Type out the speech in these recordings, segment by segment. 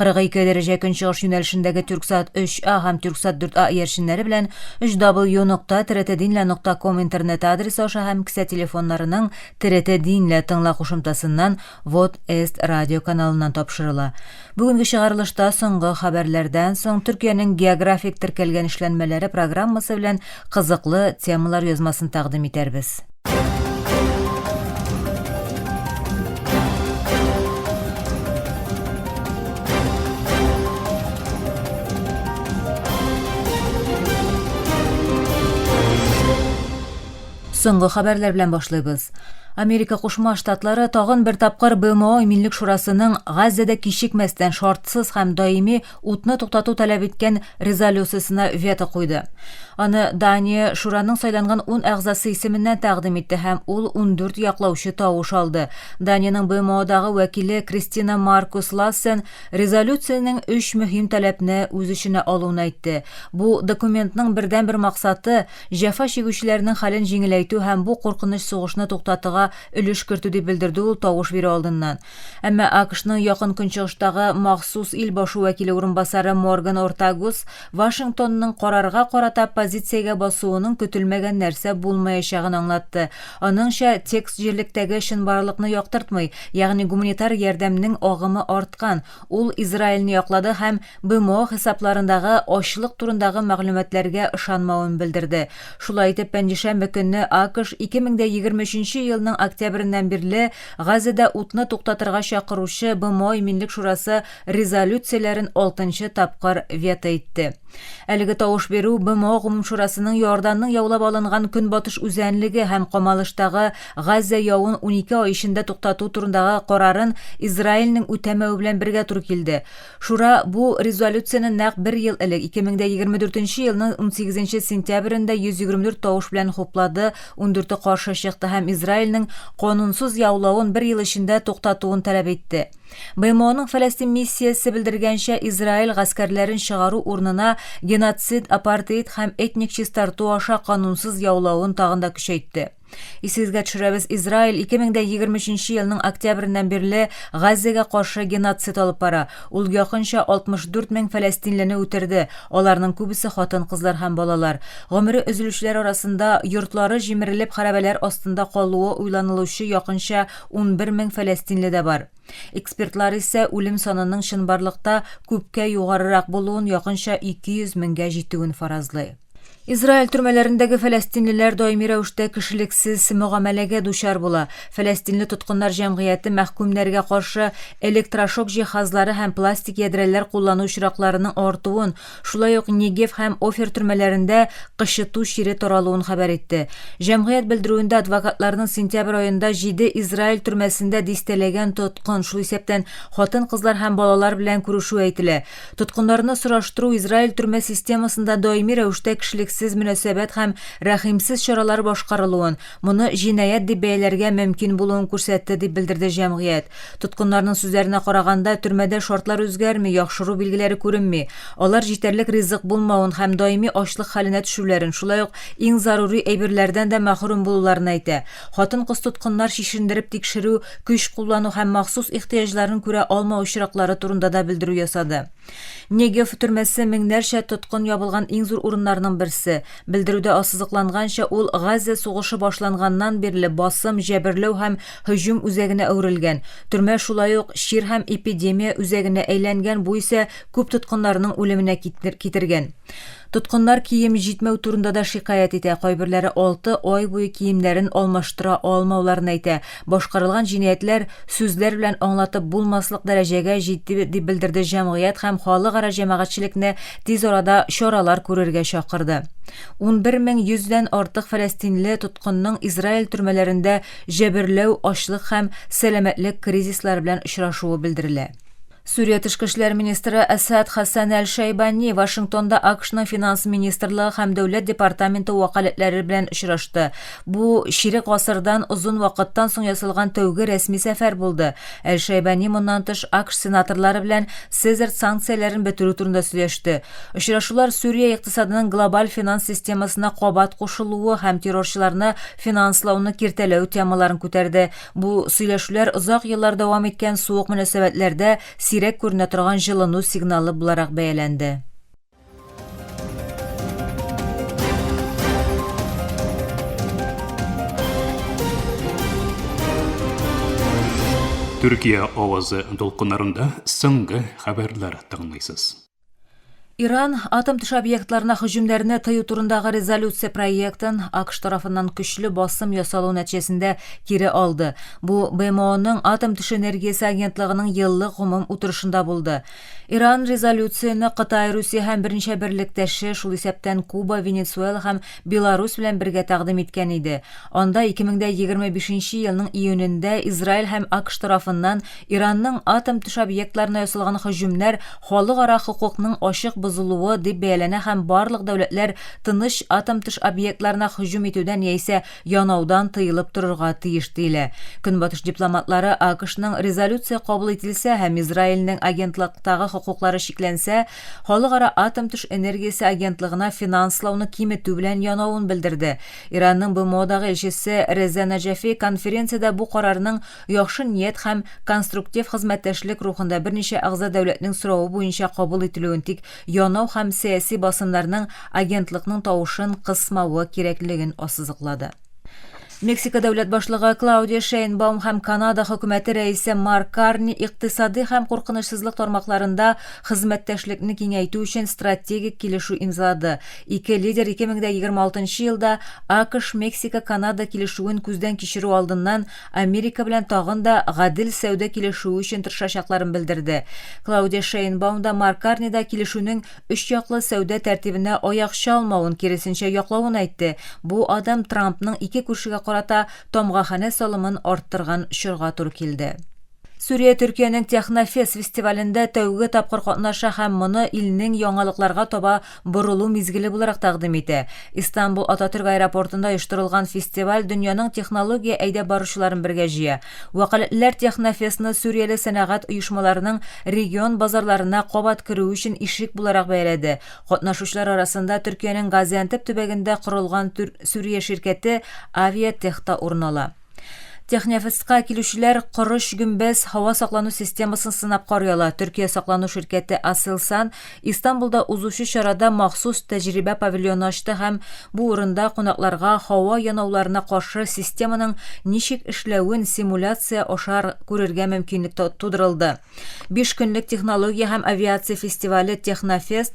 42 дәрәҗә көнчыгыш юнәлешендәге Тюрксат 3А һәм Тюрксат 4А иярченнәре белән 3W нокта третединля нокта ком интернет адресы аша һәм кесә телефоннарының третединля тыңла кушымтасыннан Вот Эст радио каналыннан тапшырыла. Бүгенге чыгарылышта соңгы хәбәрләрдән соң Төркиянең географик теркәлгән эшләнмәләре программасы белән кызыклы темалар язмасын тәкъдим итәрбез. Соңгы хәбәрләр белән башлыйбыз. Америка Кушма Штатлары тагын бер тапкыр БМО Иминлек шурасының Газзәдә кичекмәстән шартсыз һәм даими утны туктату таләп иткән резолюциясенә вето куйды. Аны Дания шураның сайланган ун әгъзасы исеменнән тәкъдим итте һәм ул ундүрт яклаучы тавыш алды. Даниянең БМОдагы вәкиле Кристина Маркус Лассен резолюциянең өч мөһим таләпне үз эченә алуын әйтте. Бу документның бердәнбер максаты, җәфа чигүчеләрнең хәлен җиңеләйтү һәм бу куркыныч сугышны туктатыга өлеш кертү, дип белдерде ул тавыш бирү алдыннан. Әмма АКШның Якын Көнчыгыштагы махсус ил башы вәкиле урынбасары Морган Ортагус Вашингтонның карарга карата позициягә басуының көтелмәгән нәрсә булмаячагын аңлатты. Аныңча, текст җирлектәге чынбарлыкны яктыртмый, ягъни гуманитар ярдәмнең агымы арткан, ул Израильне яклады һәм БМО хисапларындагы ачлык турындагы мәгълүматларга ышанмавын белдерде. Шулай итеп, пәнҗешәмбе көнне АКШ 2023 елның октябреннән бирле Газәдә утны туктатырга чакыручы БМО Иминлек шурасы резолюцияләрен алтынчы тапкыр вето итте. Әлеге тавыш бирү БМО Гомумшурасының Иорданның яулап алынган Көнбатыш үзәнлеге һәм Камалыштагы Газә явын унике ай эчендә туктату турындагы карарын Израильнең үтәмәве белән бергә туры килде. Шура бу резолюцияне нәкъ бер ел элек, 2024 елның 18 сентябрендә 124 тавыш белән хуплады, ундүрте каршы чыкты һәм Израильнең канунсыз яулавын бер ел эчендә туктатуын таләп итте. БМОның Фәләстин миссиясе белдергәнчә, Израиль гаскәрләрен чыгару урынына геноцид, апартеид һәм этник чистарту аша канунсыз яулавын тагын да көчәйтте. Исегезгә төшерәбез, Израиль 2023 елның октябреннән бирле Газзәгә каршы геноцид алып бара. Ул якынча 64 мең фәләстинлене үтерде, аларның күбесе хатын-кызлар һәм балалар. Гомере өзелүчеләр арасында, йортлары җимерелеп хәрабәләр астында калуы уйланылучы якынча 11 мең фәләстинле дә бар. Экспертлар исә үлем санының чынбарлыкта күпкә югарырак булуын, якынча 200 меңгә җитүен фаразлый. Израиль төрмәләрендәге фәләстинлеләр даими рәвештә кешелексез мөгамәләгә дучар була. Фәләстинле тоткыннар җәмгыяте мәхкүмнәргә каршы электрошок җиһазлары һәм пластик ядрәләр куллану очракларының артуын, шулай ук Негев һәм Офер төрмәләрендә кычыту чире таралуын хәбәр итте. Җәмгыять белдерүендә адвокатларның сентябрь аенда җиде Израиль төрмәсендә дистәләгән тоткын, шул исәптән хатын-кызлар һәм балалар белән күрешүе әйтелә. Тоткыннарны сораштыру, Израиль төрмә системасында даими рәвештә кешелексез мөнәсәбәт һәм рәхимсез чаралар башкарылуын, моны җинаять дип бәяләргә мөмкин булуын күрсәтте, дип белдерде җәмгыять. Тоткыннарның сүзләренә караганда, төрмәдә шартлар үзгәрми, яхшыру билгеләре күренми. Алар җитәрлек ризык булмавын һәм даими ачлык хәленә төшүләрен, шулай ук иң зарури әйберләрдән дә мәхрүм булуларын әйтә. Хатын-кыз тоткыннар чишендереп тикшерү, көч куллану һәм махсус ихтыяҗларын күрә алмау очраклары турында да белдерү ясады. Негев төрмәсе меңнәрчә тоткын ябылган иң зур урыннарның берсе. Белдерүдә ассызыкланганча, ул Газзә сугышы башланганнан бирле басым, җәберләү һәм һөҗүм үзәгенә әверелгән. Төрмә шулай ук чир һәм эпидемия үзәгенә әйләнгән, бу исә күп тоткыннарның үлеменә китергән. Тоткыннар кием җитмәү турында да шикаять итә, кайберләре алты ай буе киемнәрен алмаштыра алмауларын әйтә. Башкарылган җинаятләр сүзләр белән аңлатып булмаслык дәрәҗәгә җитте, дип белдерде җәмгыять һәм халыкара җәмәгатьчелекне тиз арада чаралар күрергә чакырды. Унбер мең йөздән артык фәләстинле тоткынның Израиль төрмәләрендә җәберләү, ачлык һәм сәламәтлек кризислары белән очрашуы белдерелә. Сүрия тышкы эшләр министры Әсад Хәсән Әл-Шәйбани Вашингтонда АКШның финанс министрлыгы һәм дәүләт департаменты вәкаләтләре белән очрашты. Бу чирек гасырдан озын вакыттан соң ясалган тәүге рәсми сәфәр булды. Әл-Шәйбани моннан тыш АКШ сенаторлары белән СЭЗАРТ санкцияләрен бетерү турында сөйләште. Очрашулар Сүрия икътисадының глобаль финанс системасына кабат кушылуы һәм террорчыларны финанслауны киртәләү темаларын күтәрде. Бу сөйләшүләр озак еллар дәвам иткән суык мөнәсәбәтләрдә сирәк күренә торган җылыну сигналы буларак бәяләнде. Төркия авазы дулкыннарында соңгы хәбәрләр тыңлыйсыз. Иран атом төш объектларына һөҗүмнәрне тыю турындагы резолюция проектын АКШ тарафыннан көчле басым ясалу нәтиҗәсендә кире алды. Бу БМОның атом төш энергиясе агентлыгының еллык гомум утырышында булды. Иран резолюцияне Кытай, Русия һәм берничә берлектәше, шул исәптән Куба, Венесуэла һәм Беларусь белән бергә тәкъдим иткән иде. Анда 2025 елның июнендә Израиль һәм АКШ тарафыннан Иранның атом төш объектларына ясалган һөҗүмнәр халыкара хокукның ачык бозылуы дип бәяләнә һәм барлык дәүләтләр тыныч атом төш объектларына һөҗүм итүдән яисә янаудан тыелып торырга тиеш диелә. Көнбатыш дипломатлары АКШның резолюция кабул ителсә һәм Израильнең агентлыктагы хокуклары чикләнсә, Халыкара атом төш энергиясе агентлыгына финанслауны киметү белән янавын белдерде. Иранның БМОдагы илчесе Реза Наҗафи конференциядә бу карарның яхшы ният һәм конструктив хезмәттәшлек рухында берничә әгъза дәүләтнең соравы буенча кабул ителүен тик янау һәм сәяси басымнарның агентлыкның тавышын кысмавы кирәклеген ассызыклады. Мексика дәүләт башлыгы Клаудия Шейнбаум һәм Канада хөкүмәте рәисе Марк Карни икътисади һәм куркынычсызлык тармакларында хезмәттәшлекне киңәйтү өчен стратегик килешү имзалады. Ике лидер 2026 елда АКШ-Мексика-Канада килешүен күздән кичерү алдыннан Америка белән тагын да гадел сәүдә килешүе өчен тырышачакларын белдерде. Клаудия Шейнбаум да, Марк Карни да килешүнең өчьяклы сәүдә тәртибенә аяк чалмавын, киресенчә, яклавын әйтте. Бу адым Трампның ике күршегә карата тамгаханә салымын арттырган чорга туры килде. Сүрия Төркиянең Технофест фестивалендә тәүге тапкыр катнаша һәм моны илнең яңалыкларга таба борылу мизгеле буларак тәкъдим итә. Истанбул Ататөрк аэропортында оештырылган фестиваль дөньяның технология әйдәп баручыларын бергә җыя. Вәкаләтлеләр Технофестны Сүрияле сәнәгать оешмаларының регион базарларына кабат керүе өчен ишек буларак бәяләде. Катнашучылар арасында Төркиянең Газиантеп төбәгендә корылган түр Сүрия ширкәте Авиатех та урын ала. Технефестка килүчеләр корыч гөмбәз һава саклану системасын сынап карый ала, Төркия саклану ширкәте Aselsan Истанбулда узучы чарада махсус тәҗрибә павильоны ачты һәм бу урында кунакларга һава янауларына каршы системаның ничек эшләвен симуляция аша күрергә мөмкинлек тудырылды. Биш көнлек технология һәм авиация фестивале Технофест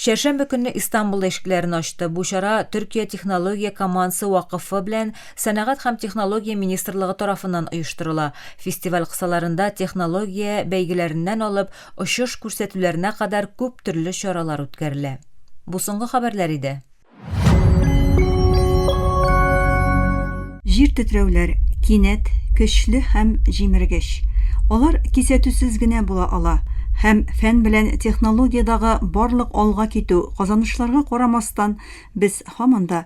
чәршәмбе көнне Истанбулда ишекләрен ачты. Бу чара Төркия технология командасы вакыфы белән Сәнәгать һәм технология министрлыгы тарафыннан оештырыла. Фестиваль кысаларында технология бәйгеләреннән алып очыш күрсәтүләренә кадәр күп төрле чаралар үткәрелә. Бу соңгы хәбәрләр иде. Җир тетрәүләр, кинәт, көчле һәм җимергеч. Алар кисәтүсез генә була ала, һәм фән белән технологиядагы барлык алга китү, казанышларга карамастан, без һаман да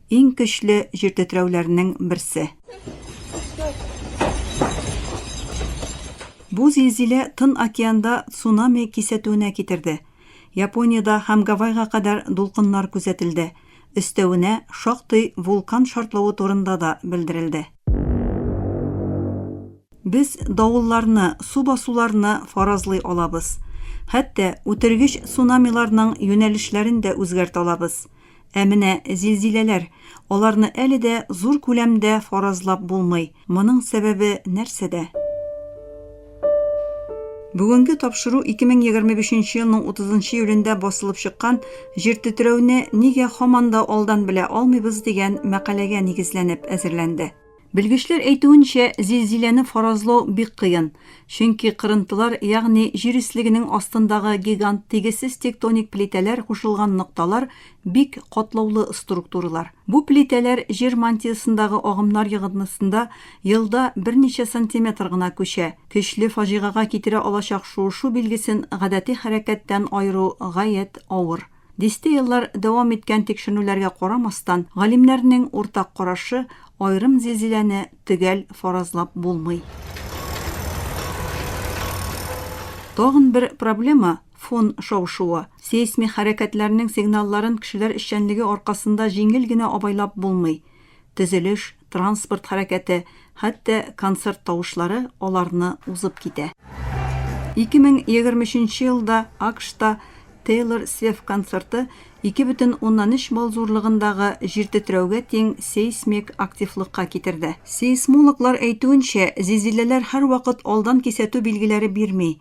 Иң көчле җир тетрәүләрнең берсе. Бу зилзилә Тын океанда цунами кисәтүенә китерде. Япониядә һәм Гавайга кадәр дулкыннар күзәтелде. Өстәвенә, шактый вулкан шартлавы турында да белдерелде. Без давылларны, су басуларны фаразлый алабыз. Хәтта үтергеч цунамиларның юнәлешләрен дә үзгәртә алабыз. Ә менә зилзиләләр, аларны әле дә зур күләмдә фаразлап булмый. Моның сәбәбе нәрсәдә? Бүгенге тапшыру 2025 елның 30 июлендә басылып чыккан Җир тетрәүне нигә һаман да алдан белә алмыйбыз дигән мәкаләгә нигезләнеп әзерләнде. Белгечләр әйтүенчә, зилзиләне фаразлау бик кыен, чөнки кырынтылар, ягъни җир өслегенең астындагы гигант тигезсез тектоник плитәләр кушылган нокталар бик катлаулы структуралар. Бу плитәләр җир мантиясендагы агымнар йогынтысында елда берничә сантиметр гына күчә. Көчле фаҗигага китерә алачак шуышу билгесен гадәти хәрәкәттән аеру гаять авыр. Дистә еллар дәвам иткән тикшеренүләргә карамастан, галимнәрнең уртак карашы, аерым зилзиләне төгәл фаразлап булмый. Тагын бер проблема, фон шау-шуы. Сейсмик хәрәкәтләрнең сигналларын кешеләр эшчәнлеге аркасында җиңел генә абайлап булмый. Төзелеш, транспорт хәрәкәте, хәтта концерт тавышлары аларны узып китә. 2023 елда АКШта Тейлор Свеф концерты 2,3 балл зурлыгындагы җир тетрәүгә тиң сейсмик активлыкка китерде. Сейсмологлар әйтүенчә, зилзиләләр һәрвакыт алдан кисәтү билгеләре бирми.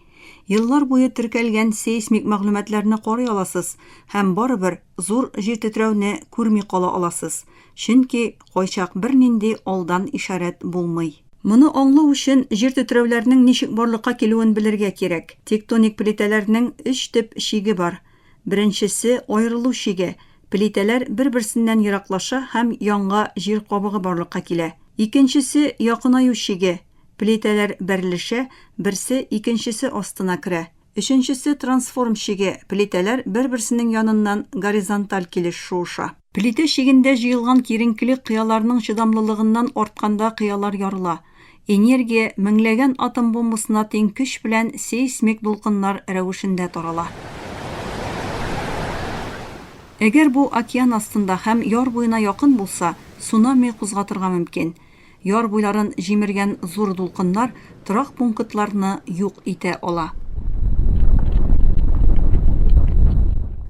Еллар буе теркәлгән сейсмик мәгълүматларны карый аласыз һәм барыбер зур җир тетрәүне күрми кала аласыз, чөнки кайчак бернинди алдан ишарәт булмый. Моны аңлау өчен җир тетрәүләрнең ничек барлыкка килүен белергә кирәк. Тектоник плитәләрнең өч төп чиге бар. Беренчесе, аерылу чиге. Плитәләр бер-берсеннән ераклаша һәм янга җир кабыгы барлыкка килә. Икенчесе, якынаю чиге. Плитәләр бәрелешә, берсе икенчесе астына керә. Өченчесе трансформ чиге, плитәләр бер-берсенең яныннан горизонталь килеш шуыша. Плитә чигендә җыелган киеренкелек кыяларның чыдамлылыгыннан артканда кыялар ярыла. Энергия меңләгән атом бомбасына тиң көч белән сейсмик дулкыннар рәвешендә тарала. Әгәр бу океан астында һәм яр буена якын булса, цунами кузгатырга мөмкин. Яр буйларын җимергән зур дулкыннар торак пунктларны юк итә ала.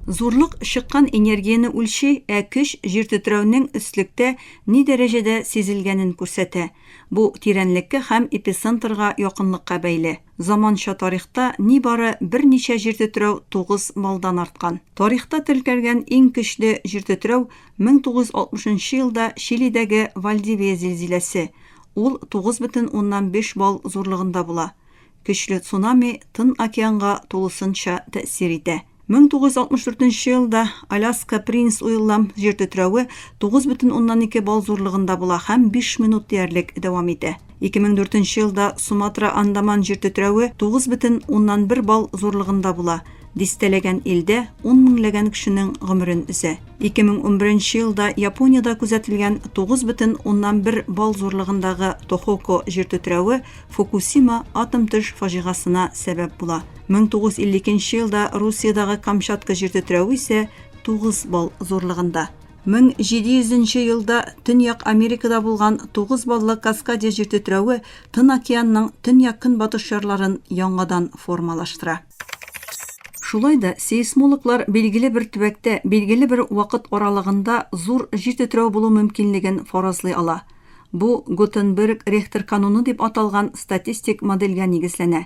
Зурлык чыккан энергияне үлчи, ә көч җир тетрәүнең өслектә ни дәрәҗәдә сизелгәнен күрсәтә. Бу тирәнлеккә һәм эпицентрга якынлыкка бәйле. Заманча тарихта нибары берничә җиртетрәү тугыз малдан арткан. Тарихта теркәлгән иң көчле җиртетрәү 1960 нчы елда Чилидәге Вальдивия зилзиләсе, ул 9,5 балл зурлыгында була. Көчле цунами Тын океанга тулысынча тәэсир итә. 1964 нче елда Аляска Принц Уиллам җир тетрәве 9,2 балл зурлыгында була һәм 5 минут диярлек дәвам итә. 2004 нче елда Суматра Андаман җир тетрәве 9,1 балл зурлыгында була, дистәләгән илдә ун меңләгән кешенең гомерен өзә. 2011 нче елда Япониядә күзәтелгән 9,1 балл зурлыгындагы Тохоко җир тетрәве Фукусима атом төш фаҗигасына сәбәп була. 1952 елда Русиядагы Камчатка җир тетрәве исә 9 балл зурлыгында. 1700 елда Төньяк Америкада булган 9 баллы Каскадия җир тетрәве Тын океанның төньяк-көнбатыш ярларын яңадан формалаштыра. Шулай да сейсмологлар билгеле бер төбәктә билгеле бер вакыт аралыгында зур җир тетрәү булу мөмкинлеген фаразлый ала. Бу Гутенберг-Рехтер кануны дип аталган статистик модельгә нигезләнә.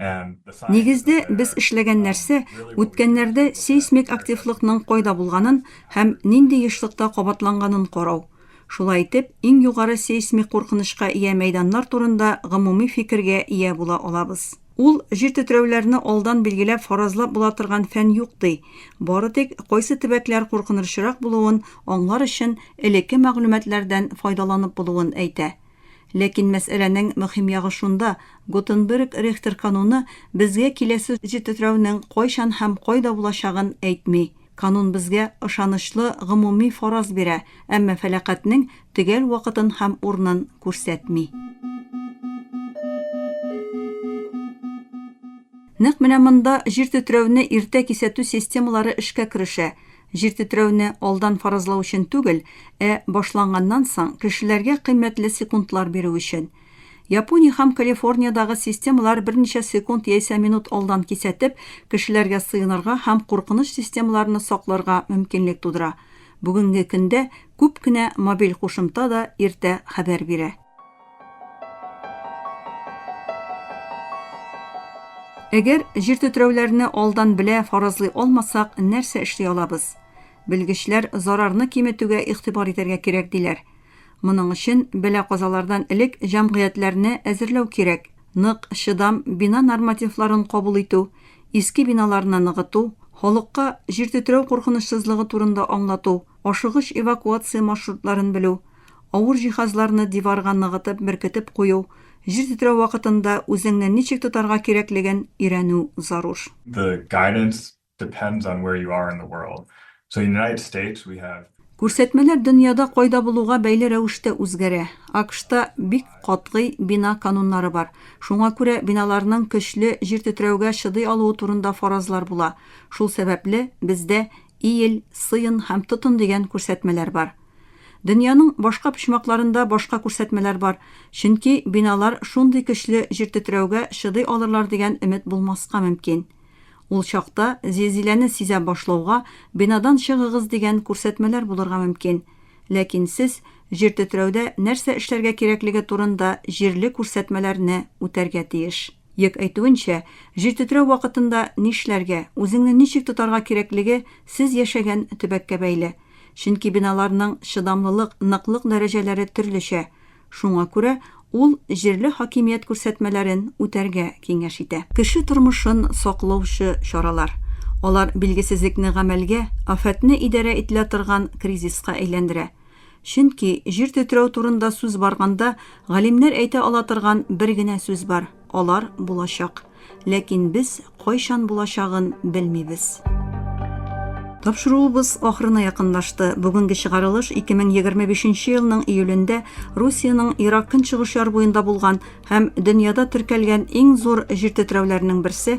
Нигездә, без эшләгән нәрсә, үткәннәрдә сейсмик активлыкның кайда булганын һәм нинди ешлыкта кабатланганын карау. Шулай итеп, иң югары сейсмик куркынычка ия мәйданнар турында гомуми фикергә ия була алабыз. Ул җир тетрәүләрне алдан билгеләп фаразлап була торган фән юк, ди, бары тик кайсы төбәкләр куркынырчырак булуын аңлар өчен элекке мәгълүматлардан файдаланып булуын әйтә. Ләкин мәсьәләнең мөһим ягы шунда, Гутенберг-Рехтер кануны безгә киләсе тетрәүнең кайчан һәм кайда булачагын әйтми. Канун безгә ышанычлы гомуми фараз бирә, әмма фәлакатьнең төгәл вакытын һәм урынын күрсәтми. Нәкъ менә монда җир тетрәүне иртә кисәтү системалары эшкә керешә. Җир тетрәүне алдан фаразлау өчен түгел, ә башланганнан соң, кешеләргә кыйммәтле секундлар бирү өчен. Япония һәм Калифорниядагы системалар берничә секунд яисә минут алдан кисәтеп, кешеләргә сыенырга һәм куркыныч системаларны сакларга мөмкинлек тудыра. Бүгенге көндә күп кенә мобиль кушымта да иртә хәбәр бирә. Әгәр җир тетрәүләрне алдан белә фаразлый алмасак, нәрсә эшли алабыз? Белгечләр зарарны киметүгә игътибар итәргә кирәк диләр. Моның өчен бәла казалардан элек җәмгыятьләрне әзерләү кирәк. Нык, чыдам бина нормативларын кабул итү, иске биналарны ныгыту, халыкка җир тетрәү куркынычсызлыгы турында аңлату, ашыгыч эвакуация маршрутларын белү, авыр җиһазларны диварга ныгытып беркетеп кую, җир тетрәү вакытында үзеңне ничек тотарга кирәклеген өйрәнү зарур. The guidance depends on where you are in the world. So in United States we have. Күрсәтмәләр дөньяда кайда булуга бәйле рәвештә үзгәрә. АКШта бик катгый бина кануннары бар. Шуңа күрә биналарның көчле җир тетрәүгә чыдый алуы турында фаразлар була. Шул сәбәпле, бездә Иел, сыен һәм тотын дигән күрсәтмәләр бар. Дөньяның башка почмакларында башка күрсәтмәләр бар, чөнки биналар шундый көчле җиртетрәүгә чыдый алырлар дигән өмет булмаска мөмкин. Ул чакта, зилзиләне сизә башлауга, бинадан чыгыгыз дигән күрсәтмәләр булырга мөмкин. Ләкин сез җиртетрәүдә нәрсә эшләргә кирәклеге турында җирле күрсәтмәләрне үтәргә тиеш. Йөк әйтүенчә, җир тетрәү вакытында нишләргә, үзеңне ничек тотарга кирәклеге сез яшәгән төбәккә бәйле. Чөнки биналарның чыдамлылык, ныклык дәрәҗәләре төрлечә. Шуңа күрә ул җирле хакимият күрсәтмәләрен үтәргә киңәш итә. Кеше тормышын саклаучы чаралар. Алар билгесезлекне гамәлгә, афәтне идарә ителә торган кризиска әйләндерә. Чөнки, җир тетрәү турында сүз барганда, галимнәр әйтә ала торган бер генә сүз бар, алар булачак. Ләкин без кайчан булачагын белмибез. Тапшыруыбыз ахырына якынлашты. Бүгенге чыгарылыш 2025 нче елның июлендә Русиянең Ерак Көнчыгыш ярбуенда булган һәм дөньяда теркәлгән иң зур җир тетрәүләренең берсе,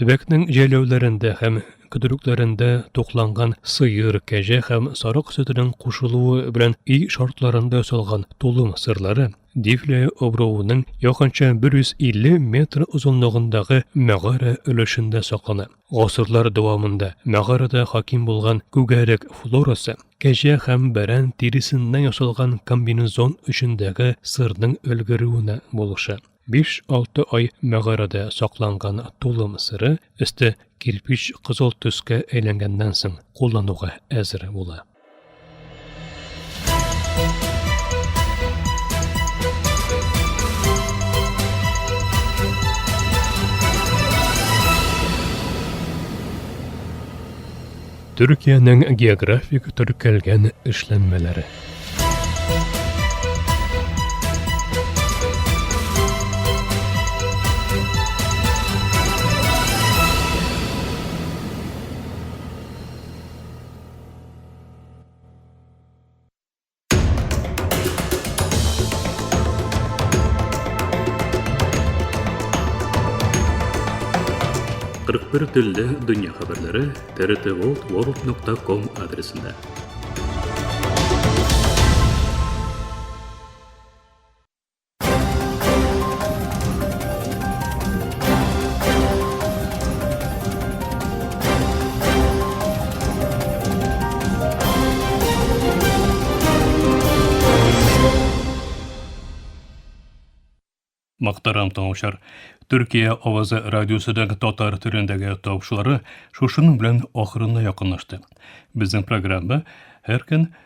Төбәкнең җәйләүләрендә һәм көтүлекләрендә тукланган сыер, кәҗә һәм сарык сөтенең кушылуы белән и шартларында салган тулым сырлары Дифле обруының якынча 150 метр озынлыгындагы мәгарә өлешендә саклана. Гасырлар дәвамында мәгарәдә хаким булган күгәрек флорасы кәҗә һәм бәрән тиресеннән ясалган комбинезон өчендәге сырның өлгерүенә булыша. 5-6 ай мәгарәдә сакланган тулым сыры өсте кирпич кызыл төскә әйләнгәннән соң куллануга әзер була. Төркиянең географик төркәлгән эшләнмәләре. Кырык бер телле дөнья хәбәрләре трт ворлд нокта ком адресында. Мактарам тыңучар. Төркия авазы радиосыдагы татар төрендәге тавышлары шушының белән ахырына якынлашты. Безнең программа һәр көн